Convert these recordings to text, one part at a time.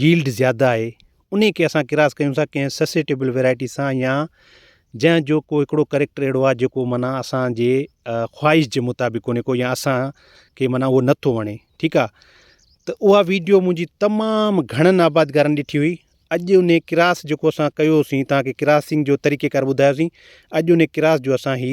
yield زياده آهي انهي کي اسان ڪراس ڪيون ٿا ڪنهن سسيٽيبل ويرائٽي سان يا جنهن جو کو هڪڙو ڪريڪٽر اهڙو آهي جيڪو معنيٰ اسانجي خواهش جي مطابق ڪونهي ڪو يا اسان کي معنيٰ هو نه ٿو وڻي ٺيڪ آهي ته اها ويڊيو منهنجي تمام گهڻن آبادگارن ڏٺي هئي اڄ انهي ڪراس جيڪو اسان ڪيوسين تانکي ڪراسنگ جو طريقي ڪار ٻڌايوسين اڄ انهي ڪراس جو اسان هي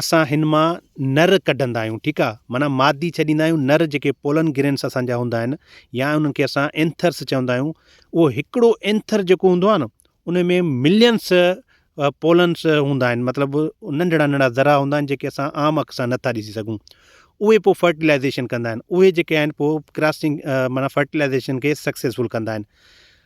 اسان هن مان نر ڪڍندا آهيون ٺيڪ آ معنيٰ مادي ڇڏيندا آهيون نر جيڪي پولن گرينس اسان جا هوندا آهن يا انهن کي اسان اينٿرس چوندا آهيون اهو هڪڙو اينٿر جيڪو هوندو آهي نه ان ۾ ملينس پولنس هوندا آهن مطلب ننڍڙا ننڍڙا ذرا هوندا آهن جيڪي اسان عام اک سان نٿا ڏسي سگهون اهي پوء فرٽيلائزيشن ڪندا آهن اهي جيڪي آهن پوء ڪراسنگ معنيٰ فرٽيلائزيشن کي سڪسيسفل ڪندا آهن